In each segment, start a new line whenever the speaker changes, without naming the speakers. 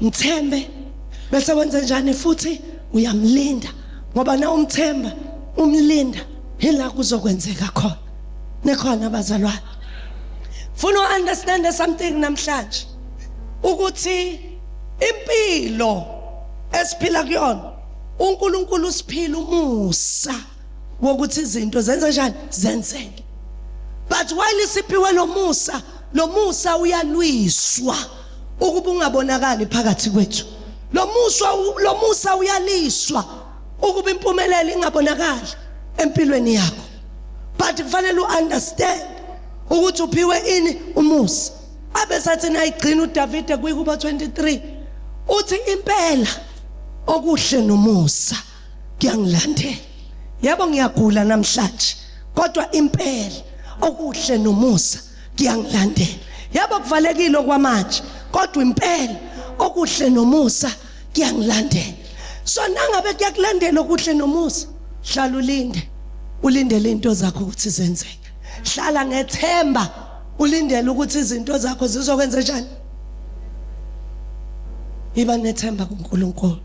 mthembe bese wenze njani futhi uyamlinda ngoba na umthemba umlinda hila kuzokwenzeka khona nekhona abazalwane funa uunderstand something namhlanje ukuthi impilo esiphila kuyona uNkulunkulu usiphila umusa wokuthi izinto zenze njani zenzeke but while isiphiwe lomusa lomusa uyalwiswa ukuba ungabonakali phakathi kwethu lomusa lomusa uyaliswa ukuba impumelelo ingabonakali empilweni yakho but kufanele uunderstand ukuthi uphiwe ini umusa abesathi nayigcina uDavide kuyikuba 23 uthi impela okuhle nomusa kuyangilandela yebo ngiyagula namhlanje kodwa impela okuhle nomusa kuyangilandela yebo kuvalekile okwamanje kodwa impela okuhle nomusa kuyangilandela so nangabe kuyakulandela okuhle nomusa hlala ulinde ulindele into zakho ukuthi zenzeke hlala ngethemba ulindele ukuthi izinto zakho zizokwenza njani iba nethemba kuNkulunkulu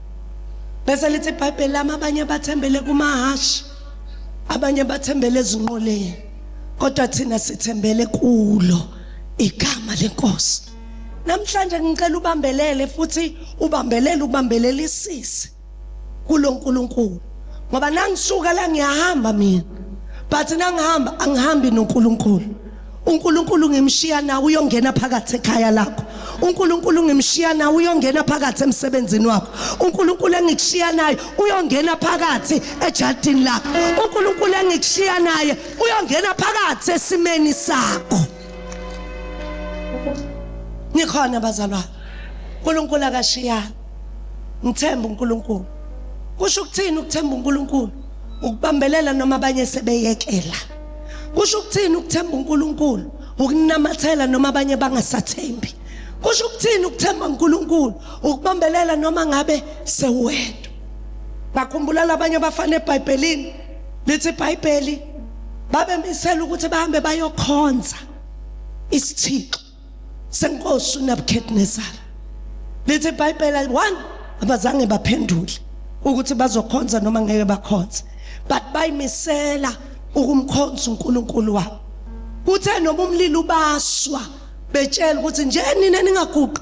bese lithi iBhayibheli lami abanye bathembele kumahashi abanye bathembele ezinqoleni kodwa thina sithembele kulo igama lenkosi namhlanje ngicela ubambelele futhi ubambelele ukubambelelisise kulo Nkulunkulu ngoba nangisuka la ngiyahamba mina but nangihamba angihambi noNkulunkulu uNkulunkulu ngimshiya nawe uyongena phakathi ekhaya lakho uNkulunkulu ngimshiya nawe uyongena phakathi emsebenzini wakho uNkulunkulu engikushiya naye uyongena phakathi ejardini lakho uNkulunkulu engikushiya naye uyongena phakathi esimeni sakho nikhona bazalwane uNkulunkulu akashiyanga ngithemba uNkulunkulu kusho ukuthini ukuthemba uNkulunkulu ukubambelela noma abanye sebeyekela kusho ukuthini ukuthemba uNkulunkulu ukunamathela noma abanye bangasathembi kusho ukuthini ukuthemba uNkulunkulu ukubambelela noma ngabe sewedwa bakhumbula labanye abafana eBhayibhelini lithi iBhayibheli babemisela ukuthi bahambe bayokhonza isithixo senkosi uNabukadnesar lithi iBhayibheli ayi-1 abazange baphendule ukuthi bazokhonza noma ngeke bakhonze but bayimisela ukumkhonza uNkulunkulu wabo kuthe noma umlilo ubaswa betshela ukuthi nje nina ningaguqi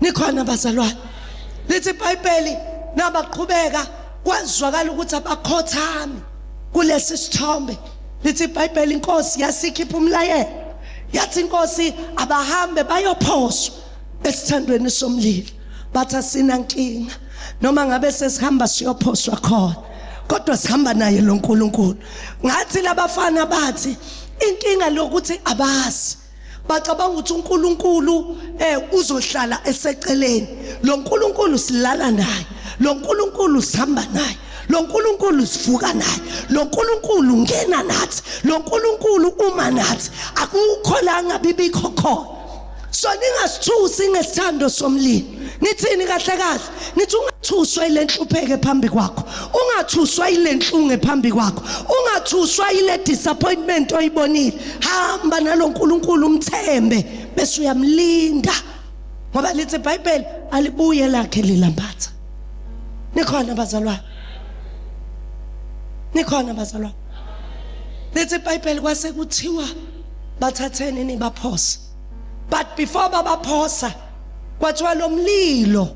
nikhona bazalwane lithi ibhayibheli nabaqhubeka kwazwakala ukuthi abakhothami kulesi sithombe lithi ibhayibheli inkosi yasikhipha umlayelo yathi inkosi abahambe bayophoswa esithandweni somlilo bathi asinankinga noma ngabe sesihamba siyophoswa khona kodwa sihamba naye lo nkulunkulu ngathi labafana bathi inkinga lokuthi abazi bacabanga ukuthi uNkulunkulu eh uzohlala eseceleni lo Nkulunkulu silala naye lo Nkulunkulu sihamba naye lo Nkulunkulu sivuka naye lo Nkulunkulu ngena nathi lo Nkulunkulu uma nathi akukho la ngabibikho khona so ningasithusi ngesithando somlilo nithini kahle kahle ngithi ungathuswa ile nhlupheke phambi kwakho ungathuswa ile nhlunge phambi kwakho ungathuswa ile disappointment oyibonile hamba nalo nkulunkulu umthembe bese uyamlinda ngoba lithi ibhayibheli alibuye lakhe lilambatha nikhona bazalwane nikhona bazalwane lithi ibhayibheli kwase kuthiwa bathatheni nibaphose but before babaphosa kwathiwa lo mlilo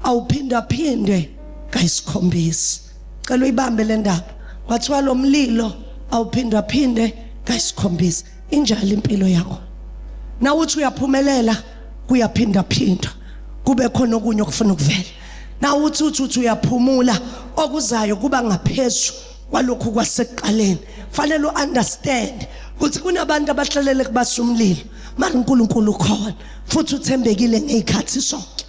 awuphindaphinde kayisikhombisi cela uyibambe le ndaba kwathiwa lo mlilo awuphindaphinde kayisikhombisi injalo impilo yakho na uthi uyaphumelela kuyaphindaphindwa kube khona okunye okufuna ukuvela na uthi uthi uyaphumula okuzayo kuba ngaphezulu kwalokhu kwasekuqaleni fanele uunderstand ukuthi kunabantu abahlalele kubasa umlilo mara uNkulunkulu ukhona futhi uthembekile ngezikhathi sonke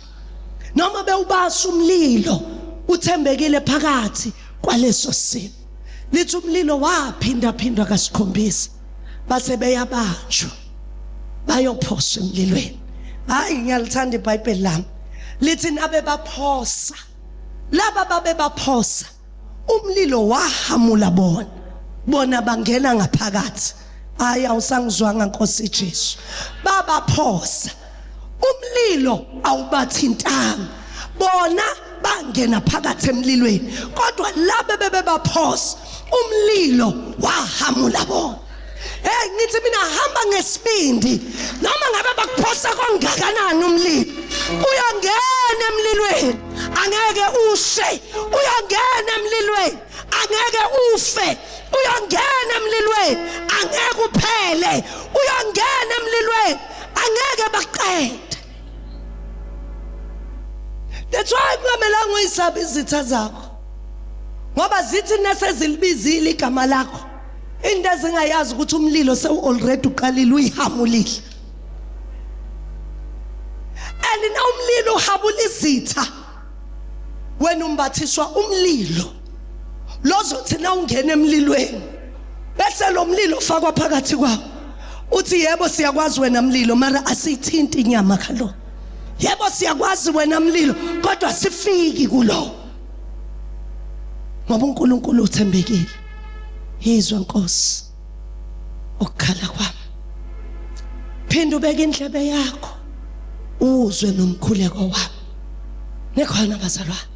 noma bewubasa umlilo uthembekile phakathi kwaleso simo lithi umlilo waphinda phindwa kasikhombisa base beyabanjwa bayophoswa emlilweni hayi ngiyalithanda ibhayibheli lami lithi nabe baphosa laba babe baphosa umlilo wahamula bona bona bangena ngaphakathi hayi awusangizwanga nkosi Jesu babaphosa umlilo awubathintanga bona bangena phakathi emlilweni kodwa laba bebebaphosa umlilo wahamula bona Hey ngithi mina hamba ngesibindi noma ngabe bakuphosa kongakanani umlilo uyangena emlilweni angeke ushe uyangena emlilweni angeke ufe uyangena emlilweni angeke uphele uyangena emlilweni angeke baqede That's why kungamelanga uyisabe izitha zakho ngoba zithi nasezilibizile igama lakho into ezingayazi ukuthi umlilo sewu already uqalile uyihamulile and na umlilo uhabula izitha wena umbathiswa umlilo lozothi na ungena emlilweni bese lo mlilo ufakwa phakathi kwawo uthi yebo siyakwazi wena mlilo mara asithinti inyama kalo yebo siyakwazi wena mlilo kodwa sifiki kulo ngoba uNkulunkulu uthembekile Yizwa Nkosi ukukhala kwami. Phinda ubeke indlebe yakho uzwe nomkhuleko wami. Nekhona bazalwane.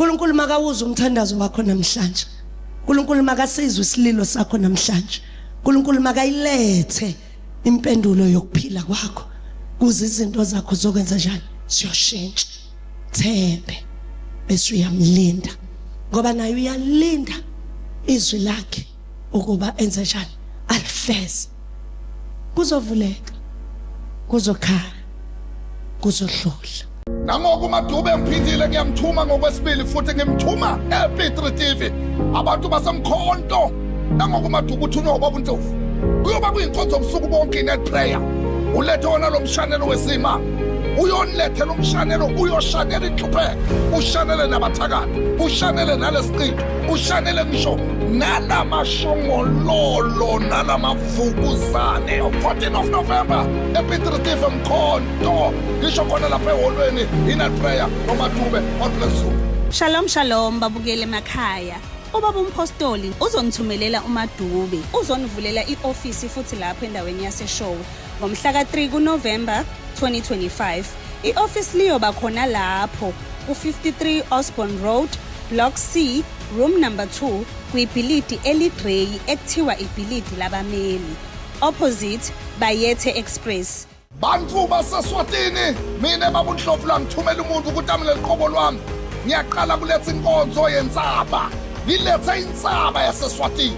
uNkulunkulu makawuze umthandazo wakho namhlanje uNkulunkulu makasizwe isililo sakho namhlanje uNkulunkulu makayilethe impendulo yokuphila kwakho kuze izinto zakho zokwenza njani siyoshintsha Thembe bese uyamlinda ngoba naye uyalinda izwi lakhe ukuba enze njani alifeze kuzovuleka kuzokhala kuzohlula nangoku
umadube ngiphindile ngiyamthuma ngokwesibili futhi ngimthuma epitre tv abantu basemkhonto nangoku umadube uthunywa ubaba untlovu kuyoba kuyinkonzo obusuku bonke inet prayer ulethe wona lo mshanelo wesima uyonilethela umshanelo uyoshanela inhlupheko ushanele nabathakathi ushanele nalesiqitho ushanele ngisho nalamashongololo nalamavukuzane 14 of november epitritive mkhonto ngisho khona lapha eholweni inal prayer nomadube god bless you shalom shalom
babukele emakhaya ubaba umphostoli uzongithumelela umadube uzonivulela i-ofisi futhi lapho endaweni yaseshowe Ngomhla ka-3 kuNovemba 2025, i-ofisi liyoba khona lapho ku-53 Osborne Road, Block C, Room Number 2, kwibhilidi eligreyi ekuthiwa ibhilidi labameli, opposite Bayethe Express. Bantu
baseSwatini, mina babunhlofu langithumela umuntu ukuthi amele liqobo lwami. Ngiyaqala kuletha inkonzo yensaba. Ngilethe insaba yaseSwatini.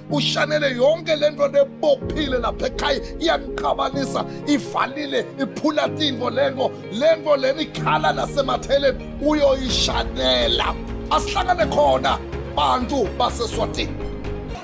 ushanele yonke le nto nebophile lapha ekhaya iyangiqabanisa ivalile iphula tingo lengo lengo leni ikhala nasematheleni uyoyishanela asihlangane khona bantu baseswatini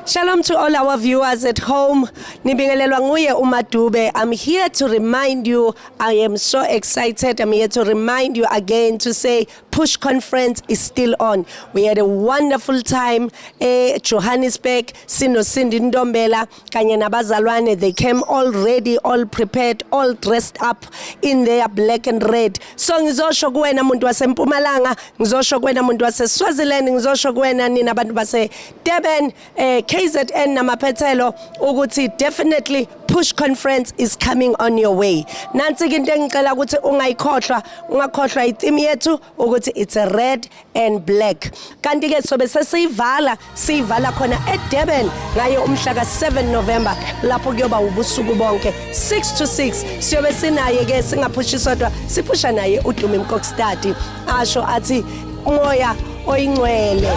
Shalom
to all our viewers at home. Nibingelelwa nguye uMadube. I'm here to remind you I am so excited. I'm here to remind you again to say Push conference is still on. We had a wonderful time eh Johannesburg sino Cindy Ndombela kanye nabazalwane they came all ready all prepared all dressed up in their black and red. So ngizosho kuwena muntu waseMpumalanga, ngizosho kuwena muntu waseSwaziland, ngizosho kuwena nina abantu base Durban eh KZN namaphethelo ukuthi definitely push conference is coming on your way nansi into engicela ukuthi ungayikhohlwa ungakhohlwa itheme yethu ukuthi it's a red and black kanti ke sobe sesiyivala siyivala khona eDurban ngayo umhla ka7 November lapho kuyoba ubusuku bonke 6 to 6 siyobe sinaye ke singaphushiswa siphusha naye uDumi Mkokstadi asho athi umoya oyingcwele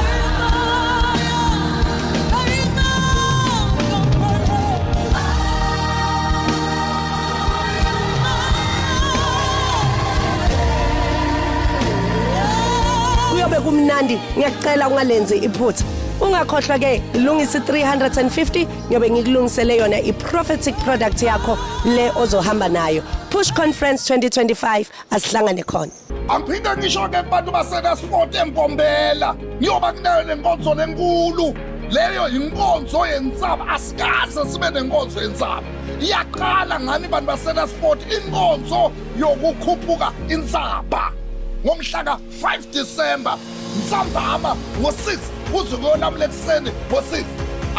kuyobe kumnandi ngiyacela ungalenzi iphutha ungakhohlwa ke lungisa 350 ngiyobe ngikulungisele yona i-prophetic product yakho le ozohamba nayo push conference 2025 asihlangane khona Angiphinde ngisho
ke kubantu baseNasport eMbombela niyoba kunayo lenkonzo lenkulu leyo yinkonzo yensaba asikaze sibe nenkonzo yensaba iyaqala ngani bantu baseNasport inkonzo yokukhuphuka insaba ngomhla ka-5 December nsambama ngo-6 uze kuyonamula ekuseni ngo-6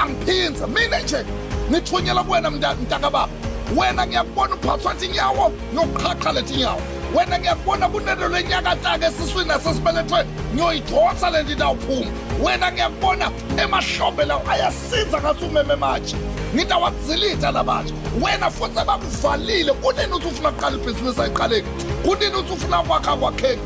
angiphindze mina nje ngithunyela kuwena mntakababa wena ngiyakubona uphathwa tinyawo ngiyokuqhaqha letinyawo wena ngiyakubona kunento lenyakataka esiswini nasesibelethweni ngiyoyidonsa le nto itawuphuma wena ngiyakubona emahlombe lawo ayasinza ngathi umeme manje ngitawakuzilitha la manje wena futhi abakuvalile kunini uthi ufuna kuqala ibhizinisi ayiqaleki kunini uthi ufuna kwakha kwakheki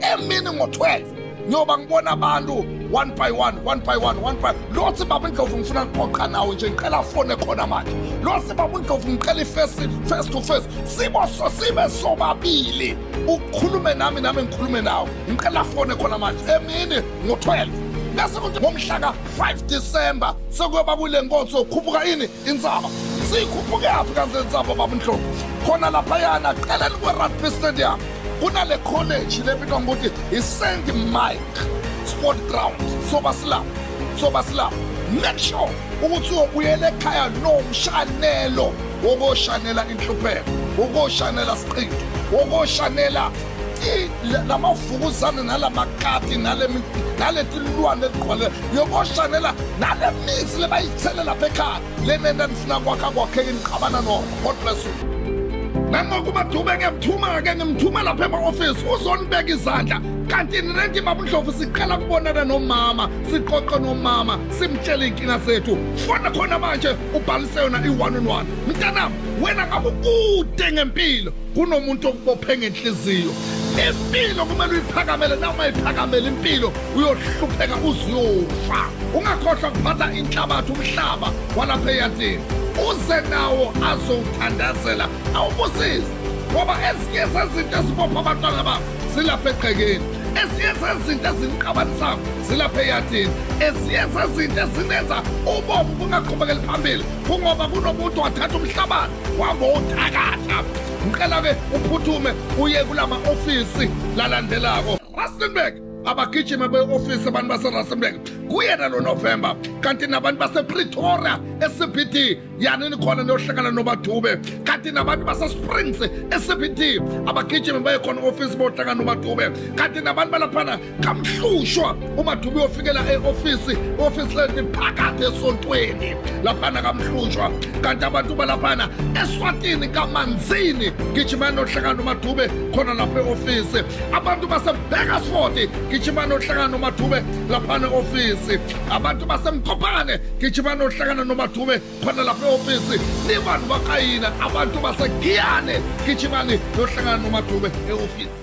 emini ngo-12 ngiyoba ngibona abantu one by one one by one one by lo sibaba indlovu ngifuna kuqoqa nawo nje ngicela afone khona manje lo sibaba indlovu ngicela ifesi face to face sibo so sibe sobabili ukhulume nami nami ngikhulume nawo ngicela afone khona manje emini ngo-12 bese kuthi ngomhlaka 5 December sekuyoba kule nkonzo khuphuka ini Inzaba siyikhuphukaphi kanti le nzaba baba Nhlobo khona laphayana qeleni kwe-rugby stadium kunale college lebitwa ngokuthi i-st mike sport ground soba silapho soba silapho make sure ukuthi uyobuyela ekhaya nomshanelo wokoshanela inhlupheko wokoshanela siqinto wokoshanela lamavukuzane nalamakati naletilwane letigcwale yokoshanela nalemitsi lebayitsele lapha ekhaya lenenta nifuna kwakha kwakheke nixabana no god bless you nangokuba dube ngiyamthuma-ke ngimthuma lapha ema-ofisi uzonibeka izandla kanti nirenti babundlovu siqala kubonana nomama siqoqe nomama simtshele iy'nkinga zethu fona khona manje ubhalise yona i-one on one mntanami wena ngabe ukude ngempilo kunomuntu okubophe ngenhliziyo impilo kumele uyiphakamele na uma iphakamele impilo uyohlupheka uziyofa ungakhohlwa kuphatha inhlabathi umhlaba walapha eyadini uze nawo azowuthandazela awubusise ngoba ezinye zezinto ezibopha abantwana bakho zilapha egqekeni ezinye zezinto eziniqabanisayo zilapha eyadini ezinye zezinto ezinenza ubomi bungaqhubekeli phambili kungoba kunomuntu wathatha umhlabathi wabo uthakatha ngicela ke uphuthume uye kulama office lalandelako Rustenburg abagijima be-ofisi abantu baserustenburg kuyena lonovemba kanti nabantu basepretoria ecbt yanini khona niyohlangana nomadube kanti nabantu basesprings ecbt abagijimi baye khona ofisi bohlangana nomadube kanti nabantu balaphana kamhlushwa umadubi uyofikela e-ofisi i-ofisi lenti phakathi esontweni laphana kamhlushwa kanti abantu balaphana eswatini kamanzini gijimani ohlakani umadube khona lapho e-ofisi abantu basebhekasfoti gijimani ohlakani umadube laphana e-ofisi abantu basemkhophane gijimani ohlakana nomadube khona lapho e-ofisi nibantu bakayina abantu basegiyane gijimani nohlakana nomadube e-ofisi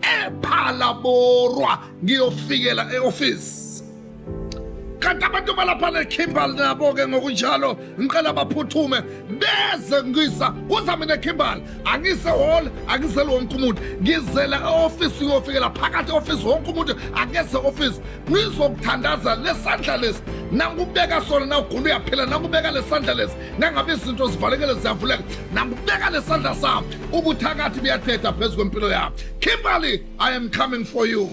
ephalaborwa ngiyofikela e-ofisi kanti abantu balapha nekhimbal nabo-ke ngokunjalo ngicela baphuthume beze ngisa kuza mina khimbal angise hall angizele wonke umuntu ngizela e-ofisi uyofikela phakathi e-ofisi wonke umuntu akeze ofisi ngizokuthandaza lesandla lesi nangubeka sona nawugula uyaphila nangubeka lesandla lesi nangabe izinto zivalekele ziyavuleka nangibeka lesandla sami ubuthakathi buyathetha phezu kwempilo yami kimberly i am coming for you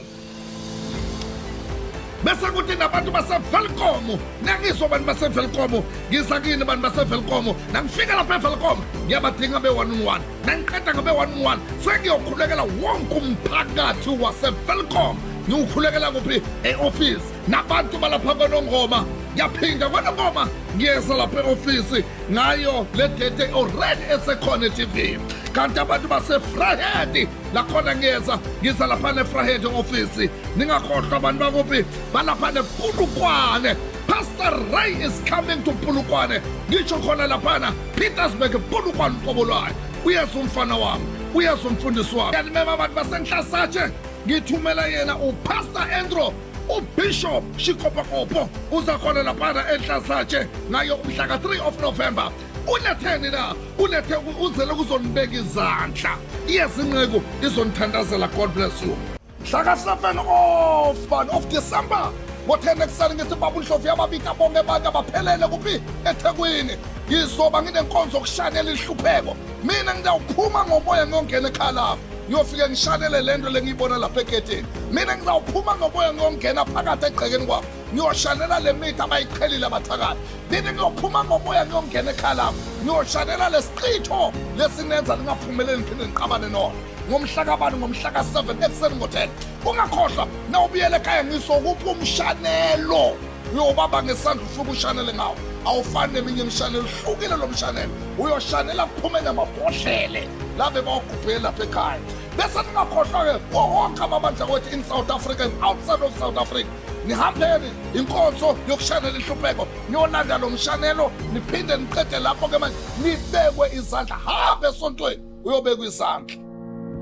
bese kuthi nabantu basevelkomo nangizwa abantu basevelkomo ngiza kini abantu basevelkomo nangifika lapha evelkomo ngiyabadinga be-one on one nangiqeda ngabe-one on one sengiyokhulekela wonke umphakathi wasevelkomo ngiwukhulekela kuphi e-ofisi nabantu balapha kwanongoma ngiyaphinda kwanongoma ngiyeza lapha e-ofisi ngayo le date already esekhona e-tv kanti abantu basefrahedi lakhona ngiyeza ngiza lapha nefrahedi ofisi ningakhohlwa abantu bakuphi balapha nepulukwane pastor ray is coming to pulukwane ngisho khona laphana petersburg pulukwane uqobo lwayo uyeza umfana wami uyeza umfundisi wami kanimema abantu basenhlasatshe ngithumela yena upastor andrew ubishop shikopakopo uza khona laphana enhlasatshe naye umhla ka-3 of november uletheni na ulethe uzele ukuzonibeka izandla iyezinceku izonithandazela god bless you mhla ka-7 of bani of december ngothena ekuseni ngithi baba unhlovu yababika bonke abantu abaphelele kuphi ethekwini ngizoba nginenkonzo yokushanela inhlupheko mina ngidawuphuma ngomoya ngiyongena ekhaya lami ngiyofike ngishanele le nto le ngiyibona lapha egedeni mina ngizawuphuma ngomoya ngiyongena phakathi egqekeni kwabo ngiyoshanela le mithi abayiqhelile abathakathi mina ngiyophuma ngomoya ngiyongena ekhaya lami ngiyoshanela le siqitho lesinenza lingaphumeleli ngiphinde ngiqabane nona ngomhla kabani ngomhla ka-7 ekuseni ngo-10 ungakhohlwa na ubuyela ekhaya ngisokuphi umshanelo uyobaba ngesandla ufike ushanele ngawo awufani neminye imishanelo uhlukile lo mshanelo uyoshanela kuphume namabhodlele labe bawugubhele lapha ekhaya bese ningakhohlwa-ke kuwo wonke amabandla kwethu in south africa and outside of south africa nihambeni inkonzo yokushanela inhlupheko niyolanda lo mshanelo niphinde niqede lapho-ke manje nibekwe izandla hambe esontweni uyobekwa izandla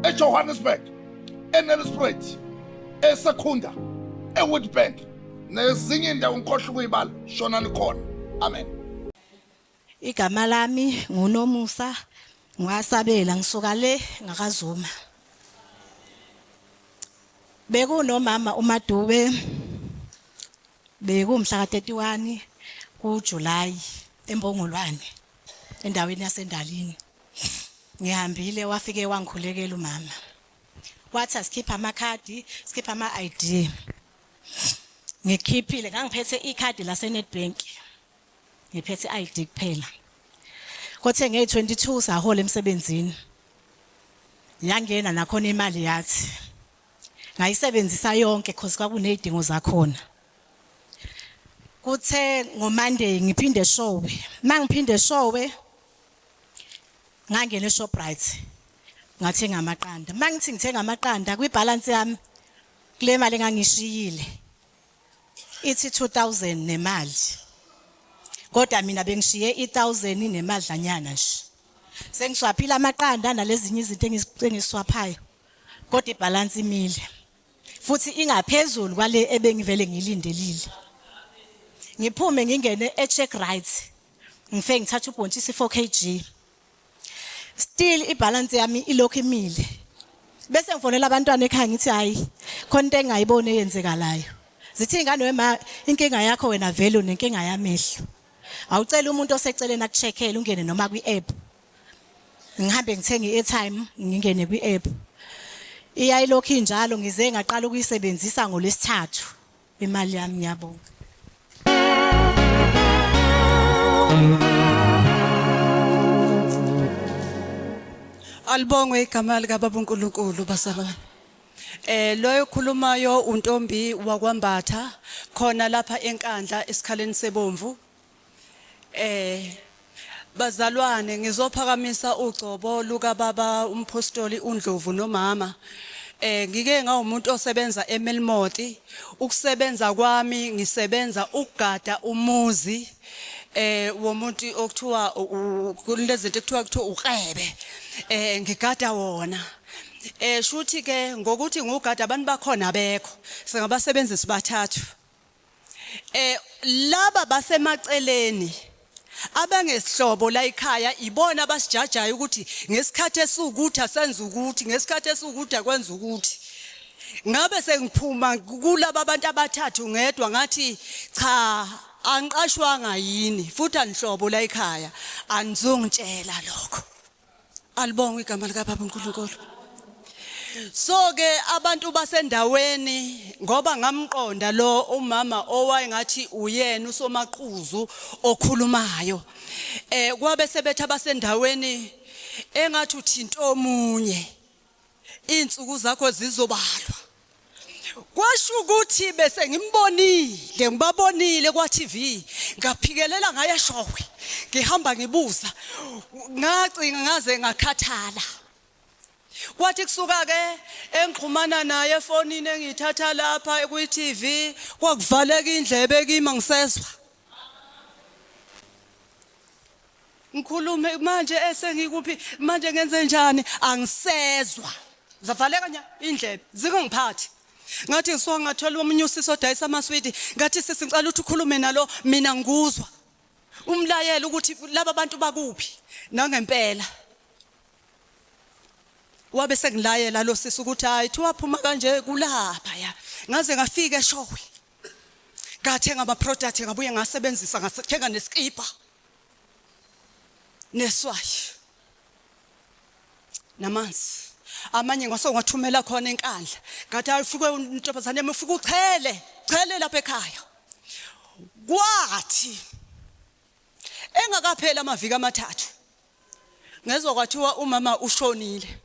ejohannesburg enelisprate esekhunda ewitbank nezinye indawo ngikhohle ukuyibala shona nikhona amen
igama lami ngunomusa ngiwasabela ngisuka le ngakazuma bekunomama umadube bekumhla ka-31 kuJuly eMpongolwane endaweni yaseNdalini ngihambile wafike wangikhulekela umama wathi asikhiphe amakhadi sikhiphe ama-ID ngikhiphile ngangiphethe ikhadi laseNedbank ngiphethe i-ID kuphela kothe ngey-22 sahola emsebenzini yangena nakhona imali yathi ngayisebenzisa yonke cause kwakunezidingo zakhona kuthe ngomonday ngiphinde eshowe mangiphinde eshowe ngangena eShoprite ngathenga amaqanda mangithi ngithenga amaqanda kwibalance yami Kule mali engangishiyile ithi 2000 nemali. Kodwa mina bengishiye i1000 nemadlanyana nje. Sengiswaphile amaqanda nalezinye izinto engiswaphayo. Kodwa ibalance imile. Futhi ingaphezulu kwale ebengivele ngilindelile. Ngiphume ngingene echeck right. Ngifike ngithatha ubhontshisi 4 kg. still ibalance yami ilokhu imile bese ngifonela abantwana ekhaya ngithi hayi khona into engayiboni eyenzekalayo zithi ingane wema inkinga yakho wena vele unenkinga yamehlo awucela umuntu oseceleni akucheckele ungene noma kwi app ngihambe ngithenge airtime ngingene kwi app iyayilokhu injalo ngize ngaqala ukuyisebenzisa ngolesithathu Imali yami ngiyabonga.
Alibongwe igama lika baba uNkulunkulu basabana. Eh loyo khulumayo untombi wakwambatha khona lapha enkandla esikhaleni sebomvu. Eh bazalwane ngizophakamisa ugcobo luka baba umphostoli uNdlovu nomama eh ngike ngawumuntu osebenza eMelmoti ukusebenza kwami ngisebenza ukugada umuzi eh womuntu okuthiwa kunezinto ekuthiwa kuthiwa ukrebe eh ngigada wona eh shuthi ke ngokuthi ngugada abantu bakhona abekho singabasebenzisi bathathu Eh laba basemaceleni abangesihlobo la ekhaya ibona abasijajayo ukuthi ngesikhathi esukuthi asenza ukuthi ngesikhathi esukuthi akwenza ukuthi ngabe sengiphuma kulaba abantu abathathu ngedwa ngathi cha angiqashwanga yini futhi anihlobo la ekhaya anizongitshela lokho alibongwe igama lika baba uNkulunkulu so ke abantu basendaweni ngoba ngamqonda lo umama owayengathi uyena usomaqhuzu okhulumayo eh kwabe sebetha basendaweni engathi uthinta omunye izinsuku zakho zizobalwa kwasho ukuthi bese ngimbonile ngibabonile kwa TV ngaphikelela ngaya showe ngihamba ngibuza ngacinga ngaze ngakhathala kwathi kusuka ke engixhumana naye efonini engithatha lapha ku TV kwakuvaleka indlebe kimi ngisezwa ngikhulume manje esengikuphi manje ngenze njani angisezwa zavaleka nya indlebe zingangiphathi ngathi ngisuka ngathola omunye usisi odayisa amaswidi ngathi sisi ngicela ukuthi ukhulume nalo mina ngikuzwa umlayela ukuthi laba bantu bakuphi nangempela wabe sengilayela lo sisi ukuthi hayi thiwa phuma kanje kulapha ya ngaze ngafika eshowe ngathenga ama product ngabuye ngasebenzisa ngathenga neskipa neswayi namanzi amanye ngase ungathumela khona enkandla ngathi ayifike intombazane yami ufike uchele chele lapha ekhaya kwathi engakapheli amaviki amathathu Ngezwa kwathiwa umama ushonile.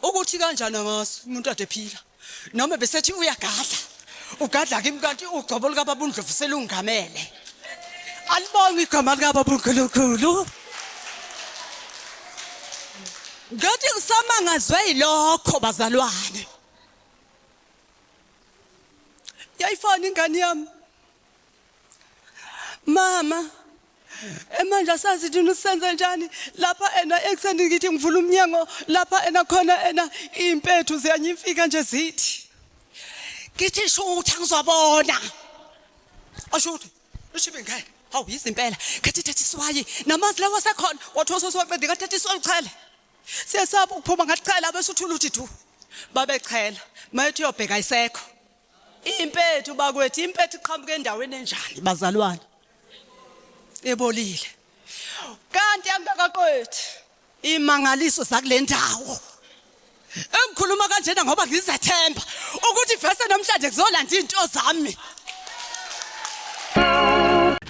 Ukuthi kanjani angazi umuntu ade phila. Noma besethi uyagadla. Ugadla kimi kanti ugcobo lika baba uNdlovu selungamele. Alibonga igama lika baba uNkulunkulu. Ngathi ngisamangazwe yilokho bazalwane. Yayifana ingane yami. mama manje asazi thina usenze njani lapha ena ekuseni ngithi ngivula umnyango lapha ena khona ena impethu ziyanyimfika nje zithi ngithi shutha ngizobona ashuthe ushibe ngeke hawu yizimpela khathi thatha iswayi namanzi lawa asekhona wathi ososiwaqede kathatha iswayi uchele siyesaba ukuphuma ngathi chela bese uthula uthi thu babechela mayethi uyobheka isekho Impethu bakwethu impethu iqhamuka endaweni enjani bazalwane? Ebolile. Kanti angakaqedi imangaliso zakulendawo. Engikhuluma kanjena ngoba ngizethemba ukuthi vese namhlanje kuzolanda into zami.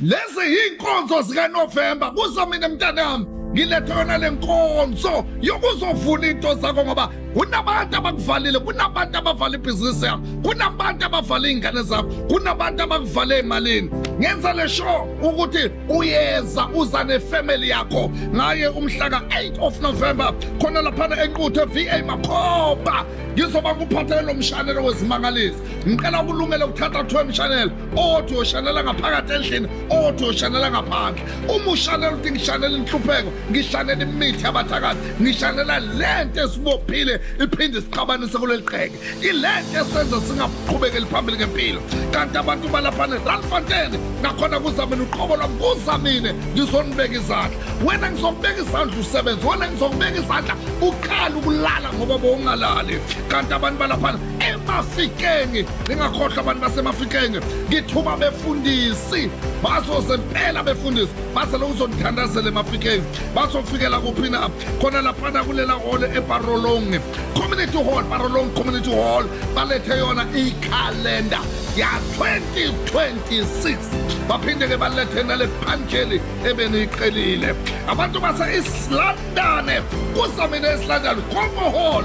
Lezi yinkonzo zika November kuza mina mntanami ngilethe yona lenkonzo yokuzovuna into zakho ngoba kunabantu abakuvalile kunabantu abavala ibhizinisi yakho kunabantu abavala iy'ngane zakho kunabantu abakuvale emalini ngenza le show ukuthi uyeza uza nefamily yakho ngaye umhlaka 8 of november khona laphana enquthe va makhoba ngizoba nguphathele lo mshanelo wezimangalisi ngicela ukulungela ukuthatha kuthiwa emshanela othi uyoshanela ngaphakathi endlini othi uyoshanela ngaphandle uma ushanela uthi ngishanela inhlupheko ngishanela imithi yabathakathi ngishanela le nto esibophile iphinde sixabanise kuleli qheke ile nto esenza singaqhubekeli phambili ngempilo kanti abantu balaphane ralfanteni ngakhona kuzamina uqobo lwami kuzamine ngizonibeka izandla wena ngizokubeka izandla usebenzi wena ngizokubeka izandla uqala ukulala ngoba bowungalali kanti abantu balaphana emafikeni ningakhohlwa abantu basemafikeni ngithuba befundisi bazoze mpela befundisi baze lokuzonithandazela emafikeni bazofikela kuphi na khona laphana kulela hole eparolong community hall parolong community hall balethe yona ikhalenda ya 2026 baphinde ke balethe nale phanjeli ebeniyiqelile abantu base isilanda London. Kusamine eSlondon, Congo Hall,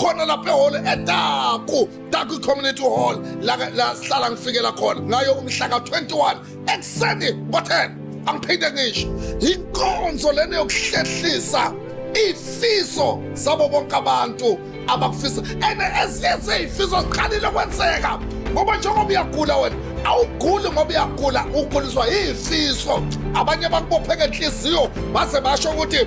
khona lapha ehholo edaku daku community hall la la sihlala ngifikela khona ngayo umhla ka-21 ekuseni ngo-10 angiphinde ngisho yinkonzo lena yokuhlehlisa ifiso zabo bonke abantu abakufisa and ezinye zeyifiso ziqalile kwenzeka ngoba njengoba uyagula wena awuguli ngoba uyagula uguliswa yifiso abanye bakubophe ngenhliziyo baze basho ukuthi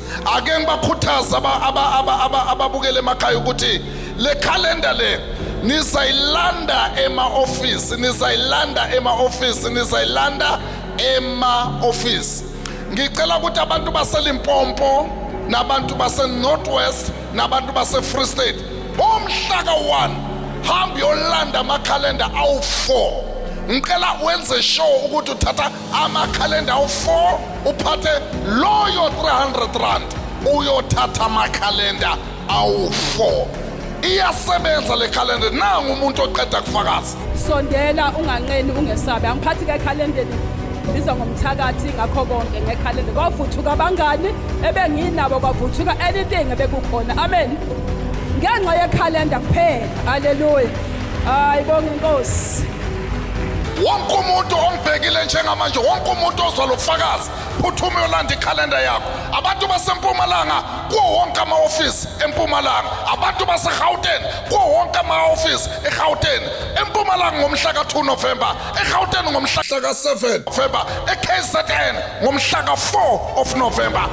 ake ngibakhuthaza ababukele emakhaya ukuthi le calendar le nizayilanda ema-ofisi nizayilanda ema-ofisi nizayilanda ema-ofisi ngicela ukuthi abantu baselimpompo nabantu base-north west nabantu base-free state bomhlaka 1 hambe yolanda amakhalenda awu-4 ngicela wenze sure ukuthi uthatha amakhalenda awu-4 uphathe loyo 300 rand uyothatha amakhalenda awu-4 iyasebenza le khalenda nangu umuntu oqeda kufakaza sondela
unganqeni ungesabi angiphathi ke ekhalendeni ngibizwa ngomthakathi ngakho konke ngekhalenda kwavuthuka abangani ebenginabo kwavuthuka anything ebekukhona amen ngenxa yekhalenda kuphela haleluya hayi bonke inkosi
wonke umuntu ongibhekile njengamanje wonke umuntu ozwa lo bufakazi phuthuma uyolanda ikhalenda yakho abantu basempumalanga kuwo wonke ama-ofisi empumalanga abantu basegauteni kuwo wonke ama-ofisi egauteni empumalanga ngomhla ka-2 novemba egauteni ngomhla ka-7 novemba ekzn ngomhla ka-4 of novemba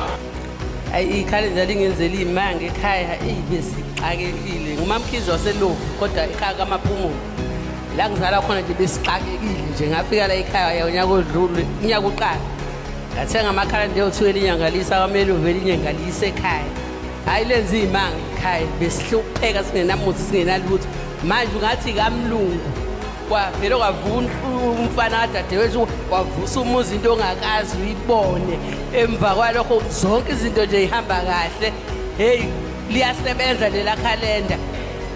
ayi
ikhalenda lingenzela iy'manga ekhaya eyi besixakekile ngumamkhizi waseloku kodwa ekhaya kamaphumulo la ngizala khona nje besixakekile nje ngafika la ekhaya unyaka odlule unyaka uqala ngathenga amakhala nje othiwa elinyangalisa kwamele uvele inyangalise ekhaya hhayi lenza iy'manga ekhaya besihlupheka singenamuthi singenalutho manje ungathi kamlungu kwavele kwavuka umfana kadadewethu wavusa umuzi into ongakazi uyibone emva kwalokho zonke izinto nje ihamba kahle heyi liyasebenza lela khalenda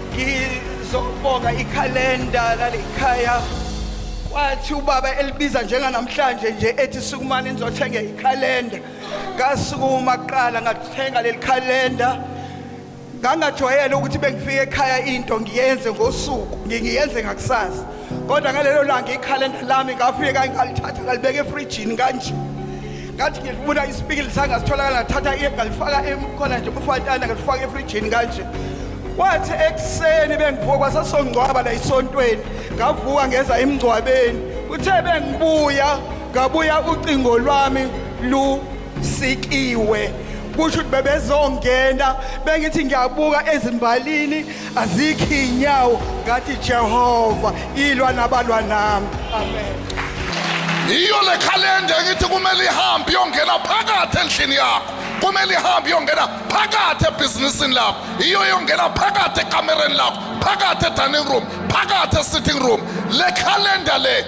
ngizobonga
ikhalenda lalikhaya kwathi ubaba elibiza njenganamhlanje nje ethi sukumani nizothenga ikhalenda ngasukuma kuqala ngathenga leli khalenda ngangajwayele ukuthi bengifika ekhaya into ngiyenze ngosuku ngiyenze ngakusasa kodwa ngalelo langa ikhalenda lami ngafika ngalithatha ngalibeka efrijini kanje ngathi ngifuna isipikili sanga sitholakala ngathatha iye ngalifaka khona nje umfantana ngalifaka efrijini kanje kwathi ekuseni bengivuka kwasasongcwaba la isontweni ngavuka ngeza emngcwabeni kuthe bengibuya ngabuya ucingo lwami lusikiwe kusho ukuthi bebezongena bengithi ngiyabuka ezimbalini azikho iy'nyawo ngathi jehova ilwa nabalwa nami amen
yiyo le khalenda engithi kumele ihambe iyongena phakathi endlini yakho kumele ihambe iyongena phakathi ebhizinisini lakho iyo iyongena phakathi ekamereni lakho phakathi edining room phakathi esitting room le khalenda le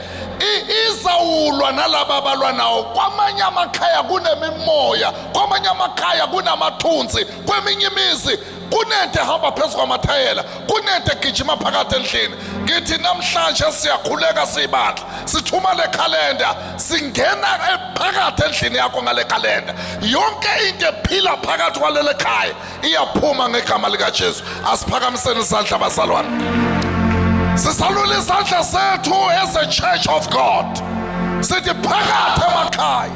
izawulwa nalaba abalwa nawo kwamanye amakhaya kunemimoya kwamanye amakhaya kunamathunzi kweminye imizi kunente hamba phezu kwamathayela kunente gijima phakathi endlini ngithi namhlanje siyakhuleka siyibandla sithuma le khalenda singena phakathi endlini yakho ngale khalenda yonke into ephila phakathi kwalele khaya iyaphuma ngegama likajesu asiphakamiseni isandla bazalwane sisalula isandla sethu as a church of god sithi phakathi emakhaya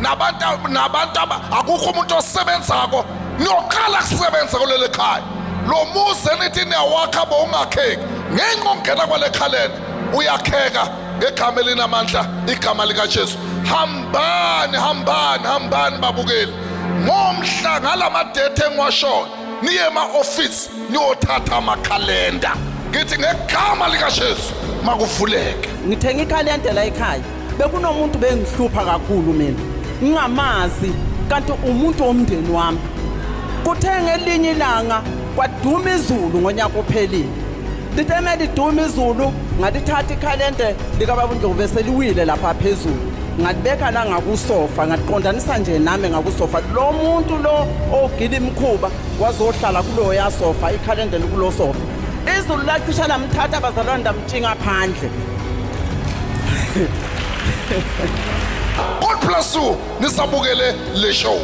nabantu nabantu akukho umuntu osebenzako niyoqala kusebenza kuleli khaya lo muzi enithi niyawakha bowungakheki ngenxa ongena kwale khaleni uyakheka ngegama elinamandla igama likajesu hambani hambani hambani babukeli ngomhla ngalamadethe engiwashoyo niye ema-ofisi niyothatha amakhalenda ngithi ngegama likajesu makuvuleke ngithenga ikhalenda
la ekhaya bekunomuntu bengihlupha kakhulu mina ngingamazi kanti umuntu womndeni wami kuthe ngelinye ilanga kwaduma izulu ngonyaka ophelile Liteme liduma izulu ngalithatha ikhalente likababa uNdlovu bese liwile lapha phezulu ngalibeka la ngakusofa ngaliqondanisa nje nami ngakusofa lo muntu lo ogila imkhuba wazohlala kuloyo yasofa ikhalende likulo sofa izulu lacisha lamthatha abazalwane ndamtshinga phandle
God bless you nisabukele le show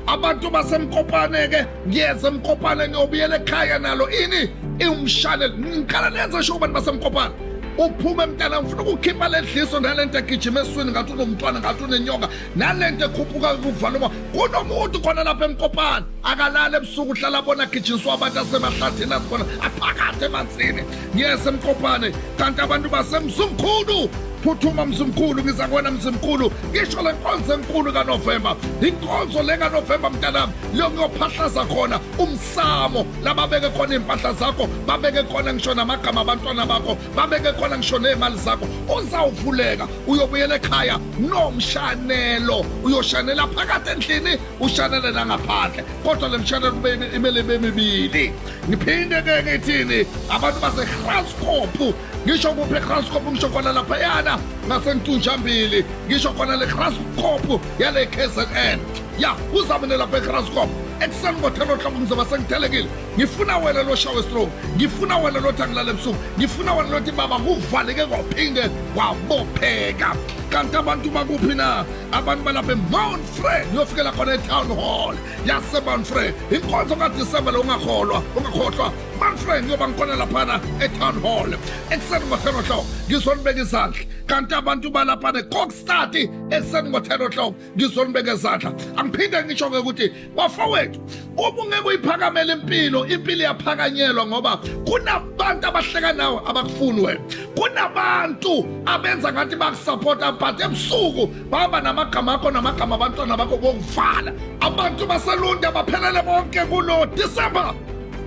abantu basemkopane ke ngiyeza mkopana ngiyobuyela ekhaya nalo ini iwumshane ngiqala nenze sho kubantu basemkopana uphume mntana ngifuna ukukhipha le dliso nale nto egijima eswini ngathi unomntwana ngathi unenyoka nale nto ekhuphuka kuvala uma kunomuntu khona lapha emkopana akalali ebusuku uhlala abona agijinswa abantu asemahlathini azibona aphakathi emanzini ngiyese mkopane kanti abantu basemzumkhulu phuthuma mzumkhulu ngiza kuwena mzumkhulu ngisho le nkonzo enkulu kanovemba inkonzo le kanovemba mntanami leyo ngiyophahlaza khona umsamo lababeke khona iy'mpahla zakho babeke khona ngisho namagama abantwana bakho babeke khona ngisho ney'mali zakho uzawuvuleka uyobuyela ekhaya nomshanelo uyoshanela phakathi endlini ushanele nangaphandle kodwa le mshanelo kumele ibe mibili ngiphinde ke ngithini abantu basegraskop ngisho kuphi egraskop ngisho khona laphayana ngasentunjambili ngisho khona le graskop yale kzn ya uzamene lapha egraskop ekuseni ngothela ohloko ngizoba sengithelekile ngifuna wena loshawe strong ngifuna wena lothi angilale ebusuku ngifuna wena lothi baba kuvaleke kwaphinde kwabopheka kanti abantu bakuphi na abantu balapha emount fred uyofikela khona etown hall yasemanfrey inkonzo kadisemba lo ungakholwa ungakhohlwa manfrey ngiyoba ngikhona laphana etown hall ekuseni ngo-ten o'clock ngizonibeka izandla kanti abantu balaphana ekokstati ekuseni ngo-ten o'clock ngizonibeka izandla angiphinde ngisho-ke ukuthi bafowethu uma ungeke uyiphakamela impilo impilo iyaphakanyelwa ngoba kunabantu abahleka nawe abakufuni wena kunabantu abenza ngathi bakusapota but ebusuku baba namagama akho namagama abantwana bakho kokuvala abantu baselunde baphelele bonke kulo disemba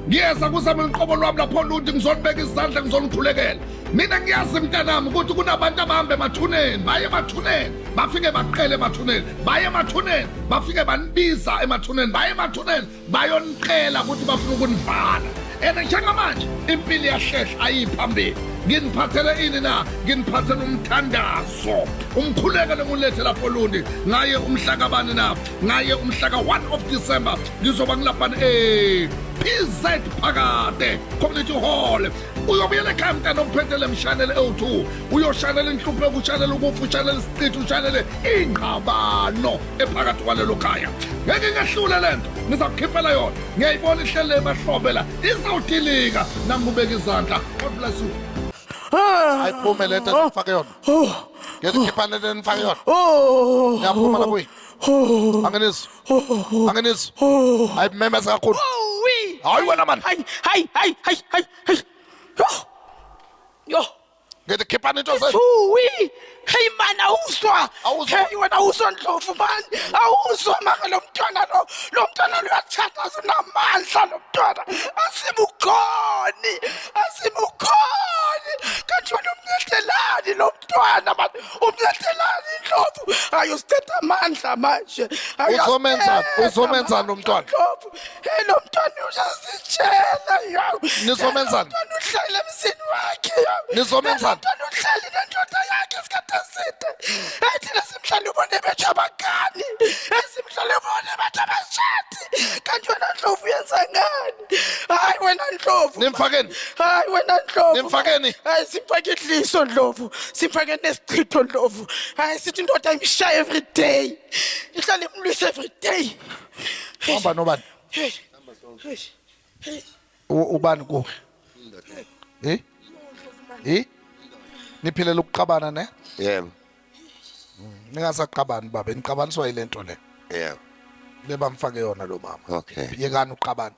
ngiyeza kuzama uliqobo lwami lapho lundi ngizonibeka izandla ngizonikhulekela mina ngiyazi mntanami ukuthi kunabantu abahambe emathuneni baye emathuneni bafike baqele emathuneni baye emathuneni bafike banibiza emathuneni baye emathuneni bayonicela ukuthi bafuna ukunivala and njengamanje impilo iyahlehla ayiphambili nginiphathele ini na nginiphathele umthandazo umkhuleko lengulethe lapho lundi ngaye umhlakabani na ngaye umhlaka 1 of december ngizoba ngilabhani e eh, pz phakade community hall uyobuyela ekhaya mntana uphethele mshanele ewu-2 uyoshanela inhluphe kushanela ukufa ushanele isiqithi ushanele ingqabano ephakathi kwalelo khaya ngeke ngehlule le nto ngizakukhiphela yona ngiyayibona ihlele ebahlobela izawudilika nangibeka izandla god bless you ayiphume le nto ndifake yona ngiyazikhipha le nto ndifake yona ngiyaphuma lapho angenizwa angenizwa ayimemeza kakhulu hayi wena mani hayi hayi hayi hayi hayi yo ngithi khiphani into ze Uwi, hey
man awuzwa. Awuzwa. Hey wena awuzwa ndlovu man. Awuzwa maka lo mntwana lo. Lo mntwana lo uyathanda sinamandla lo mntwana. Asimukhoni. Asimukhoni. Kanti wena umnyetelani lo mntwana man. Umnyetelani ndlovu. Ayosithatha amandla manje. Uzomenza- Ayasithetha
uzomenza lo mntwana. Ndlovu. Hey lo
mntwana uyazitshela yo. Nizomenzani? Mntwana
uhlale emzini
wakhe yo. Nizomenzani? Mntwana
uhlale nendoda
yakhe isikhathi eside. Hey thina simhlale ubone bethu abagani. Hey simhlale ubone bethu abashadi. Kanti wena Ndlovu uyenza ngani? Hayi wena Ndlovu. Nimfakeni. Hayi
wena Ndlovu.
Nimfakeni. Hayi
simfake
idliso Ndlovu. Simfake nesichitho Ndlovu. Hayi sithi indoda imshaya every day. Ihlale
imlwisa
every day.
Uhamba
nobani?
U- Ubani kuwe? Eh? Eh? Niphilela ukuqabana ne? Yebo.
Ningasaqabani
baba, niqabaniswa yilento le. Yebo.
Lebamfake
yona lo mama. Okay. Yekani
uqabana.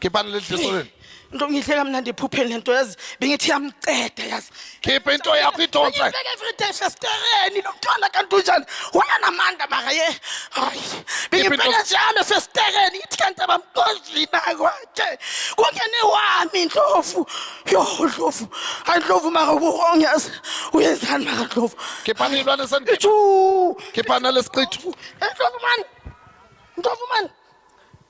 Khiphani leli dliso leli. Into ngihle kamnandi
ephupheni lento yazi bengithi yamceda yazi. Khipha into yakho
idonse. Ngibeke everyday
festereni nomntwana kanti unjani? Wayanamandla maka ye. Hayi. Bengibheka njalo festereni ithi kanti abamqojina kwaje. Kungene wami indlovu. Yo ndlovu. Hayi ndlovu maka uwrong yazi. Uyenzani maka ndlovu? Khiphani ilwane sendini.
Chu. Khiphana lesiqithu. Ndlovu man.
Ndlovu man.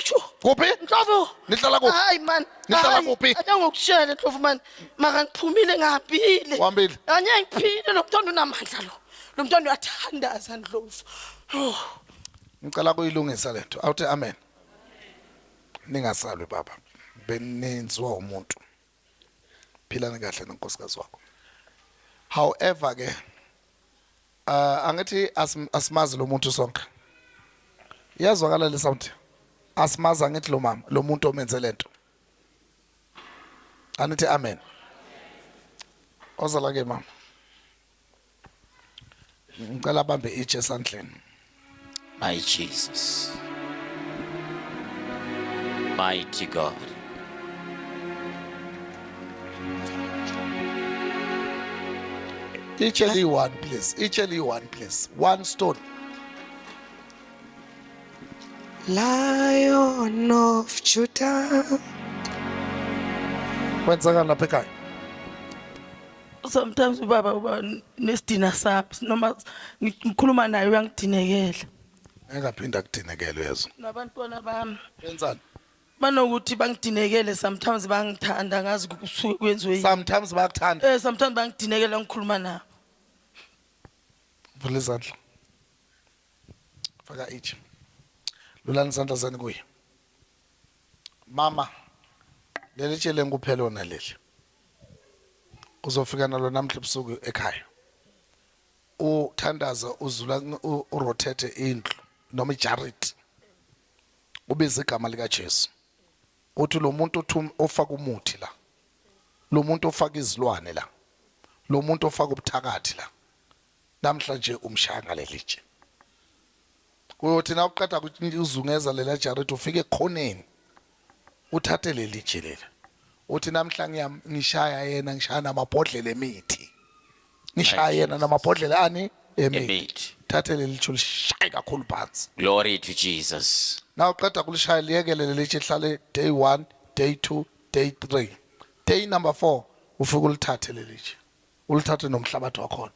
Isho. Kuphi? Nhlobo.
Nihlala kuphi? Hayi
man. Nihlala Hayi,
kuphi? Ake
ngokutshele Ndlovu man.
Maka ngiphumile ngihambile. Uhambile? Anye
ngiphile lo
mntwana unamandla lo. Lo mntwana uyathandaza Ndlovu. Oh.
Ngicela kuyilungisa lento. Awuthi amen. Ningasalwi baba. Beninzwa umuntu. philani kahle nonkosikazi wakho however ke uh, angithi asimazi lo muntu sonke iyazwakala le sound asimazi angithi lo mama lo muntu omenze lento anithi amen ozala ke mama ngicela bambe itshe esandleni my
jesus mighty god
itshe liyi-one please itshe liyi-one please one stone
lion of judah
kwenzeka lapha ekhaya
sometimes ubaba uba nesidina sami noma ngikhuluma naye uyangidinekela engaphinda
akudinekele uyezwa nabantwana bami
benzani
banokuthi
bangidinekele sometimes bangithanda ngazi kusuke kwenziwe yini. sometimes bayakuthanda eh
sometimes bangidinekela
ngikhuluma nabo
vula izandla faka ithi lulani izandla zani kuye mama leli tshele ngikuphela ona leli uzofika nalo namhla ebusuku ekhaya uthandaza uzula urotate indlu noma ijariti ubiza igama likaJesu uthi lo muntu ofaka umuthi la lo muntu ofaka izilwane la lo muntu ofaka ubuthakathi la Namhlanje umshaya ngalelitshe. Uyothi na uqeda kuzungeza lela jaridi ufike ekhoneni. Uthathe lelitshe lela. Uthi namhlanje yami ngishaya yena ngishaya namabhodlela emithi. Ngishaya yena namabhodlela ani emithi. Thathe lelitshe lishaye kakhulu phansi. Glory to Jesus.
Na uqeda kulishaya
liyekele lelitshe lihlale day 1, day 2, day 3. Day number 4 ufike ulithathe lelitshe. ulithathe nomhlabathi wakhona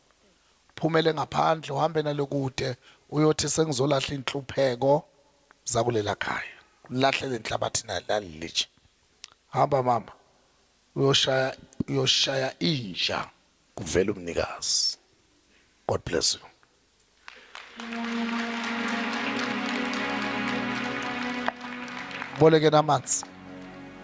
phumele ngaphandle uhambe nalo kude uyothi sengizolahla inhlupheko zakulela khaya lahlele inhlabathi nalilitshe hamba mama uyoshaya uyoshaya inja kuvela umnikazi god bless you bolekeni amanzi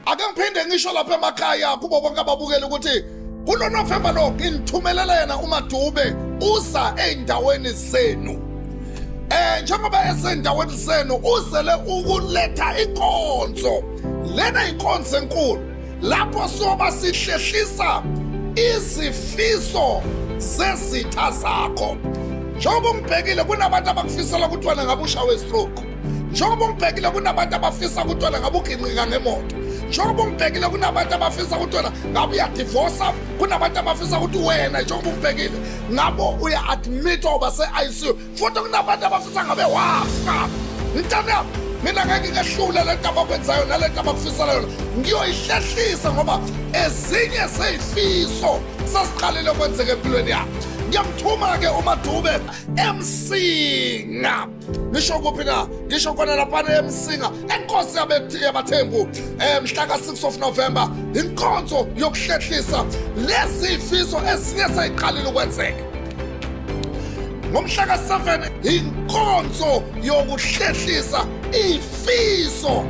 ake ngiphinde ngisho lapha emakhaya kubo bonke ababukele ukuthi kulo novemba lo nginithumelela yena umadube uza ey'ndaweni zenu eh njengoba esendaweni zenu uzele ukuletha inkonzo lena inkonzo enkulu lapho soba sihlehlisa izifiso zezitha zakho njengoba ungibhekile kunabantu abakufisela kuthiwana ngabe ushawe stroke njengoba ungibhekile kunabantu abafisa kuthiwana ngabe uginqika ngemoto njengoba ungibhekile kunabantu abafisa ukuthi wena ngabe uyadivosa kunabantu abafisa ukuthi wena njengoba ungibhekile ngabo uya-admithwa uba se-icu futhi kunabantu abafisa ngabe wafa mntana yami mina ngeke ngehlule le nto abakwenzayo nale nto abakufisela yona ngiyoyihlehlisa ngoba ezinye zeyifiso sasiqalile kwenzeka empilweni yami ngiyamthuma-ke umadube emsinga ngisho kuphi na ngisho khona laphana emsinga enkosi yabathembu um eh, mhla ka-6 of november inkonzo yokuhlehlisa lezi fiso ezinye seyiqalile ukwenzeka ngomhla ka-7 inkonzo yokuhlehlisa ifiso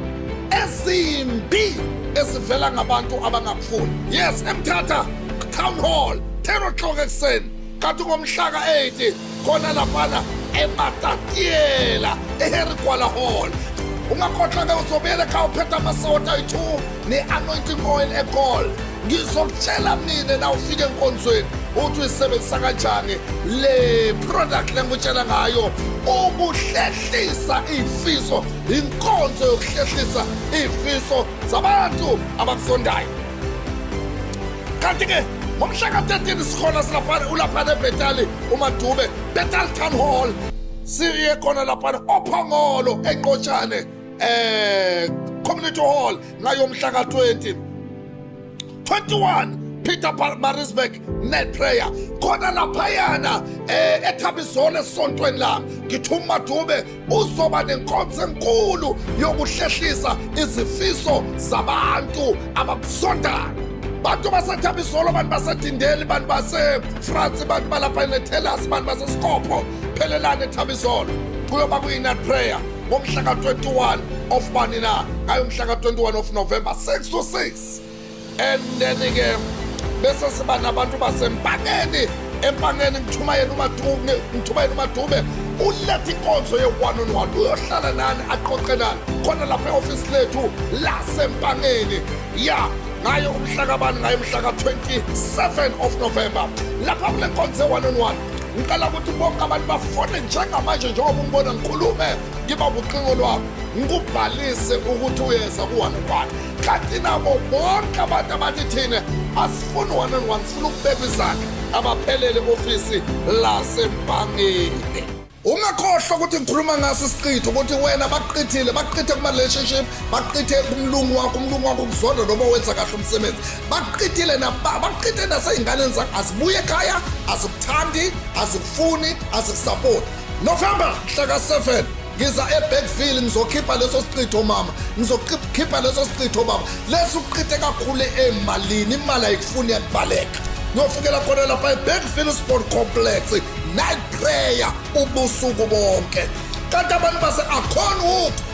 ezimbi ezivela ngabantu abangakufuni yes emthatha town hall 10 o'clock ekuseni kanti ngomhla ka-8 khona laphana ematatiela eharry gwala hall ungakhohlwa-ke uzobuyela ekhaya uphethe amasota ayi-2 ne-anointing oil egol ngizokutshela mina na ufike enkonzweni uthi uyisebenzisa kanjani le product lengikutshela ngayo ukuhlehlisa iy'fiso inkonzo yokuhlehlisa iy'fiso zabantu abakusondayo kanti-ke ngomhla ka-13 sikhona silaphana ulaphana ebhetali umadube betal town hall siye khona laphana ophongolo enqotshane eh community hall ngayo mhla ka20 21 Peter Marisburg net prayer khona laphayana eh ethabizona esontweni lami ngithuma dube uzoba nenkonzo enkulu yokuhlehlisa izifiso zabantu ababusondayo bantu basethabizolo abantu basedindeli bantu basefrance bantu balapha enethelasi bantu basesikopho phelelani ethabizolo kuyoba kuyinat prayer ngomhla ka-21 of bani na ngayo umhla ka-21 of november 6 to 6 and then-ke bese siba nabantu basempangeni empangeni ngithumayela umadube ngithumayela umadube uletha inkonzo ye-one on one uyohlala nani aqoqe nani khona lapha e-ofisi lethu lasempangeni ya ngayo umhlakabani ngayo umhlaka 27 of november lapha kule nkonzo ye-one on one ngicela ukuthi bonke abantu bafone njengamanje njengoba umbona ngikhulume ngiba ubuqingo lwakho ngikubhalise ukuthi uyeza ku-one and one kanti nabo bonke abantu abathi thina asifuni one and one sifuna ukubeka izakhe abaphelele ofisi lasembangeni ungakhohlwa ukuthi ngikhuluma ngaso isiqitho ukuthi wena baqithile baqithe kuma-relationship baqithe kumlungu wakho umlungu wakho ukuzonda noma wenza kahle umsebenzi baqitile baqite nasey'nganeni zakho azibuye ekhaya azikuthandi azikufuni azikusapoti november hlaka 7 ngiza ebekville ngizokhipha leso sichitho mama ngizokhipha leso sichitho baba lesi uqite kakhulu emalini imali ayikufuni yakubaleka ngiyofukela khona lapha ebekville sport complex night prayer ubusuku bonke kanti abantu base akhona ukuthi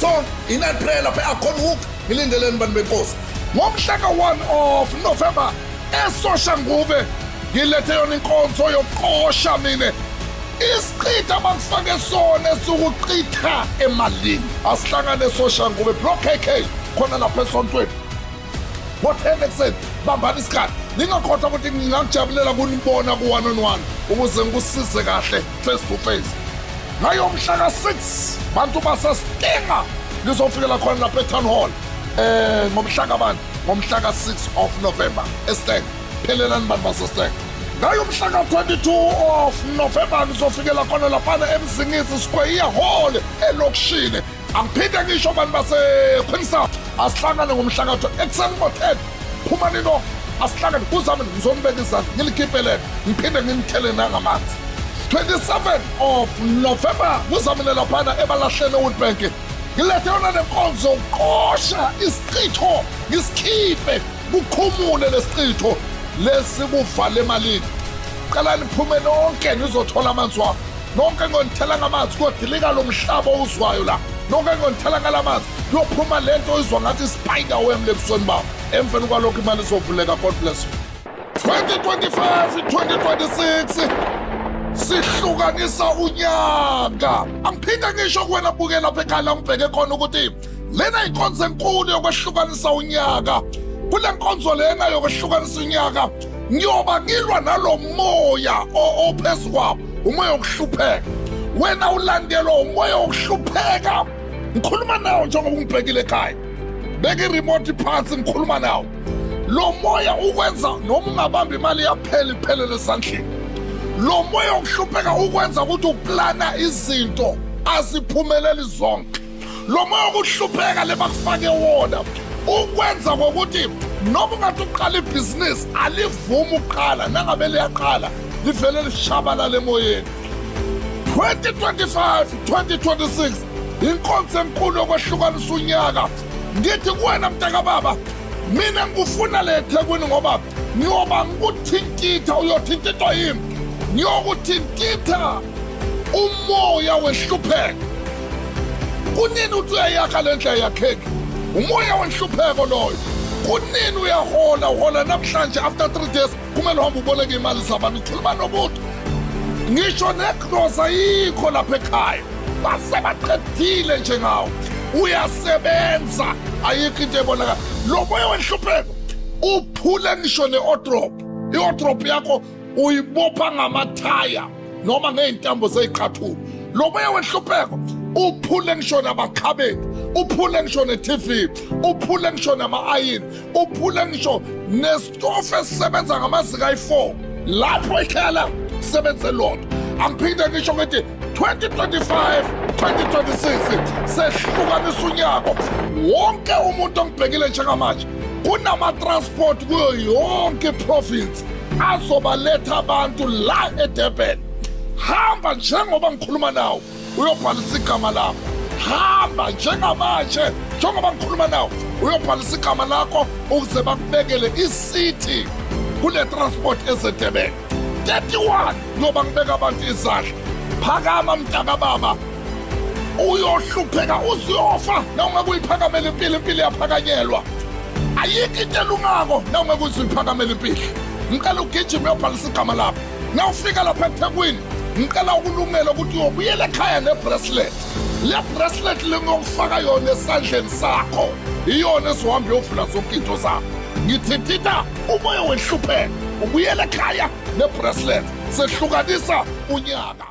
so inaprela phe akhona hook ngilindeleni bantu benkosi ngomhla ka-1 of november esosha nguve ngilethe yona inkonzo yokuqosha mina isichitha bakufake sona esukuchitha emalini asihlangane esosha nguve bro kk khona lapha esontweni Ngo-10 ekuseni bambani isikhathi ningakhohlwa ukuthi ngingakujabulela kunibona ku-one on one ukuze ngikusize kahle face to face ngayo mhla ka-6 bantu basasinkinga lizofikela khona lapha etown hall um ngomhla kabani ngomhla ka-6 of november esteng phelelani bantu basesteng ngayo mhla ka-22 of november nizofikela khona laphana emzingisi square iyahole elokishini angiphinde ngisho bantu basequeen south asihlangane ngomhlakatho ekuseni ngo-ten phuma nino asihlangane kuzami ngizonibeka izandla ngilikipelele ngiphinde ngimthele nangamanzi 27 of november kuzamile laphana ebalahleni ewoodbank ngilethe yona nenkonzo yokuqosha isichitho ngisikhiphe Kukhumule lesichitho lesi kuvale emalini. Cela niphume nonke nizothola amanzi wami. Nonke ngonithela ngamanzi kodilika lo mhlaba owuzwayo la. Nonke ngonithela ngalamanzi kuyophuma lento oyizwa ngathi spider wem lebusweni bami. Emveni kwalokho imali izovuleka God bless you. 2025 2026 sihlukanisa unyaka angiphinde ngisho kuwena buke lapha ekhaya la ngibheke khona ukuthi lena inkonzo enkulu yokwehlukanisa unyaka kule nkonzo lena yokwehlukanisa unyaka ngiyoba ngilwa nalo moya ophezu kwabo umoya wokuhlupheka wena ulandelwa umoya wokuhlupheka ngikhuluma nawo njengoba ungibhekile ekhaya beka iremote phansi ngikhuluma nawo lo moya ukwenza noma ungabamba imali yaphela iphelele esandleni lo moya wokuhlupheka ukwenza ukuthi uplana izinto aziphumeleli zonke lo moya wokuhlupheka le bakufake wona ukwenza ngokuthi noma ungathi uqala ibhizinisi alivumi ukuqala nangabe liyaqala livele lishabalala emoyeni 2025 2026 inkonzo enkulu yokwehlukanisa unyaka ngithi kuwena mntakababa mina ngikufuna le ethekwini ngoba ngiyoba ngikuthintitha uyothintithwa yimi ngiyokuthintitha umoya wehlupheka kunini uthi uyayakha le ndlela yakheki umoya wenhlupheko loyo kunini uyahola uhola namhlanje after three days kumele uhambe uboleke imali zabantu ukhuluma nomuntu ngisho negrosa yikho lapha ekhaya basebaqedile njengawo uyasebenza ayikho into ebonakala lo moya wenhlupheko uphule ngisho ne-odrop i-odrop yakho uyibopha ngamathaya noma ngey'ntambo zey'qathulo lo moya wenhlupheko uphule ngisho namakhabethe uphule ngisho ne-tv uphule ngisho nama-ayini uphule ngisho nesitofu esisebenza ngamazinga ayi-4 lapho ikhaya lakho sebenze lodwa angiphinde ngisho ngithi 2025 2026 sehlukanisa unyaka wonke umuntu ongibhekile njengamanje kunama-transport kuyo yonke iprovinsi azobaletha abantu la edurban hamba njengoba ngikhuluma nawo uyobhalisa igama lakho hamba njengamanje njengoba ngikhuluma nawo uyobhalisa igama lakho ukuze bakubekele isithi kune-transport esedurban 31 ngoba ngibeka abantu izandla phakama mntakababa uyohlupheka uziyofa noma kuyiphakamela impilo impilo yaphakanyelwa ayikho into elungako nawungeke uziphakamele impilo ngicela ugijima uyobhalisa igama lakho nawufika lapha ethekwini ngicela ukulungela ukuthi uyobuyela ekhaya nebracelet le bracelet lengiyokufaka yona esandleni sakho iyona ezohamba yovula zonke into zakho ngithi tita umoya wehlupheka ubuyela ekhaya nebracelet sehlukanisa unyaka